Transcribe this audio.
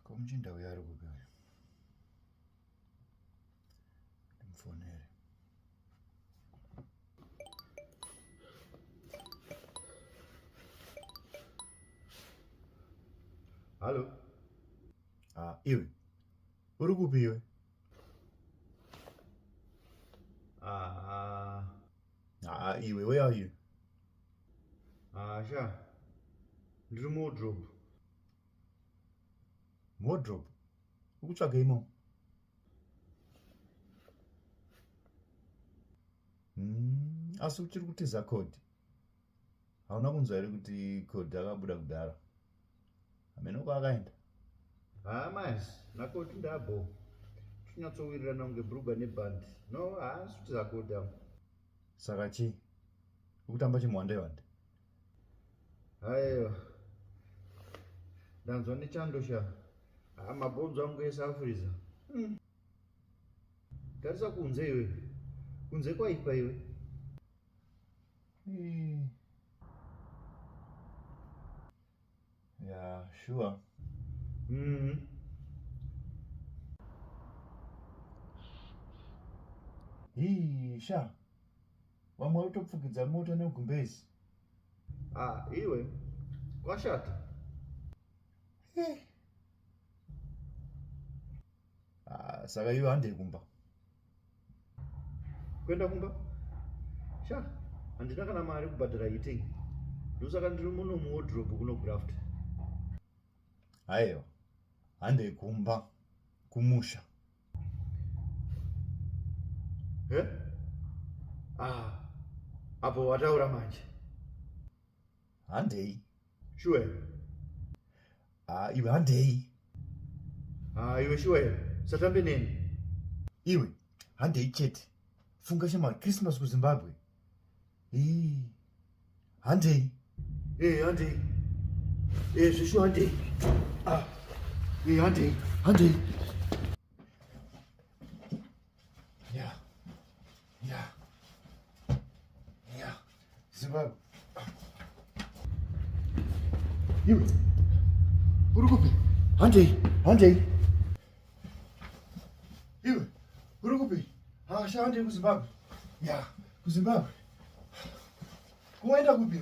komuchinda uyo ari kupi uyo ndimfonere hallo ah, iwe Uri kupi iwe? Ah. Ah, iwe, where are you? Ah, sha. Ndiri mudrop. Mudrop? Ukutsvaga imo? Mm, asi uchiri kutiza code. hauna kunzwa here kuti koti akabuda kudhara hameno kwaakaenda haa mas nakoti ndabo tinyatsowirirana kunge brugwa nebhandi no haasi kuti zakoti am saka chii ukutamba chimwandewande haiwa ndanzwa nechando sha haa mabhonzo angu ese afuriza hmm. tarisa kunze iwe kunze kwaipa iwe Yeah, sure. Mm -hmm. Hii, sha. Vamwe vari kutopfukidza mota negumbezi. Ah, iwe. Kwashata. Eh. Ah, saka iwe handei kumba. kuenda kumba sha handina kana mari kubhadhara heating ndosaka ndiri muno muwodrobe kuno graft haiwa handei kumba kumusha he ah, apo wataura manje handei shuwa here haa ah, iwe handei haa ah, iwe shuwa here usatambe neni iwe handei chete funga shema christmas kuzimbabwe ii handei ee eh, handei ee eh, zveshuwa handei ah ee eh, handei handei Yeah. Yeah. Yeah. Zimbabwe. Iwe. Uri kupi? Handei, handei. Iwe. Uri kupi? Hasha handei kuZimbabwe. Yeah. KuZimbabwe. Kuenda kupi?